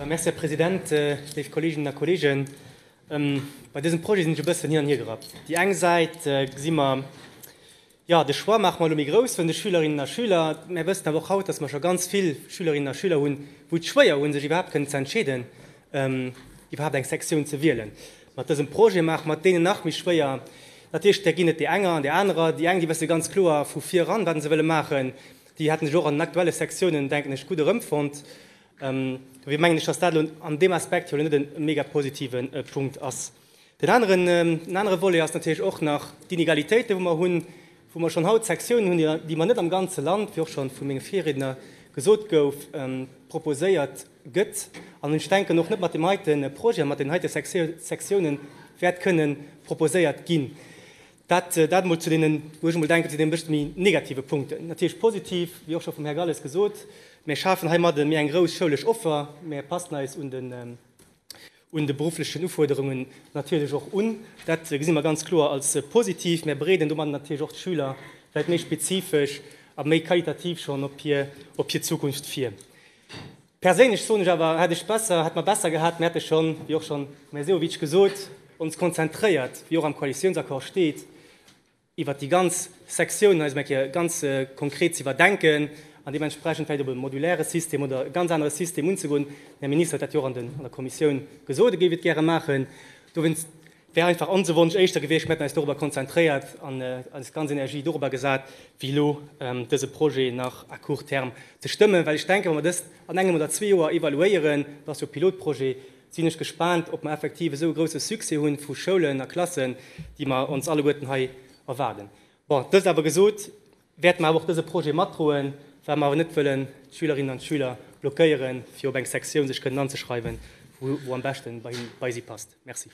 Merci, Här President. Léif Kolleeginnen a Kolleegen, bei dësem Projet sinn ech e bëssen hin an hier gerappt. Déi eng Säit gesi mer, jo, de Choix maache mer elo méi grouss vun de Schülerinnen a Schüler. Mir wëssen awer och haut, dass mer scho ganz vill Schülerinnen a Schüler hunn, wou et schwéier hunn, sech iwwerhaapt kënnen ze entscheeden, iwwerhaapt eng Sektioun ze wielen. Mat dësem Projet maache mer et deenen nach méi schwéier. Natierlech, där ginn et déi enger an déi anerer. Déi eng, déi wësse ganz kloer vu viran, wat se wëlle maachen. Déi hätten sech och an den aktuelle Sektiounen, denken ech, gutt erëmfonnt. Dobäi mengen ech, dass dat elo an deem Aspekt jo elo net e mega positive Punkt ass. Den aneren, en anere Volet ass natierlech och nach d'Inegalitéiten, wou mer hunn, wou mer schonn haut Sektiounen hunn, déi, déi mer net am ganze Land, wéi och schonn vu menge Virriedner gesot gouf, proposéiert gëtt. An ech denken och net mat deem heite Projet, mat deenen heite Sektiounen wäert kënnen proposéiert ginn. Dat emol zu deenen, wou ech emol denken, zu deene bëscht méi negative Punkten. Natierlech positiv, wéi och scho vum Här Galles gesot, Mir schafen heimadde méi eng grouss schoulesch Offer, mir passen eis un de berufflechen Ufuerderungen natierlech och un. Dat gesi mer ganz kloer als positiv. Mir bereeden domadden natierlech och d'Schüler vläicht méi spezifesch a méi qualitativ schonn op hir Zukunft vir. Perséinlech soen ech awer, hätt ech besser, hätt mer besser gehat, mer hätte schonn, wéi och schonn de Här Sehovic gesot, ons konzentréiert, wéi och am Koalitiounsaccord steet, iwwert déi ganz Sektioun hei esou eng Kéier ganz konkret ze iwwerdenken an deementsprechend vläicht op e modulaire System oder e ganz anere System unzegoen. Den Här Minister huet dat jo och an der Kommissioun gesot, e géif et gäre maachen. Dowéinst. Wär einfach onse Wonsch éischter gewiescht, mir hätten eis dorobber konzentréiert an eis ganz Energie dorobber gesat, wéi elo dese Projet nach à court terme ze stëmmen. Well ech denken, wa mer dëst an engem oder zwee Joer evaluéieren, et ass jo e Pilotprojet, sinn ech gespaant, ob mer effektiv esou e grouse Succès hu vu Schoulen a Klassen, déi mer ons alleguerten hei erwaarden. Bon, dëst awer gesot, wäerte mer awer och dese Projet matdroen, well mer awer net wëllen d'Schülerinnen an d'Schüler blockéieren, fir op eng Sektioun sech kënnen anzeschreiwen, wou am beschten bei si passt. Merci.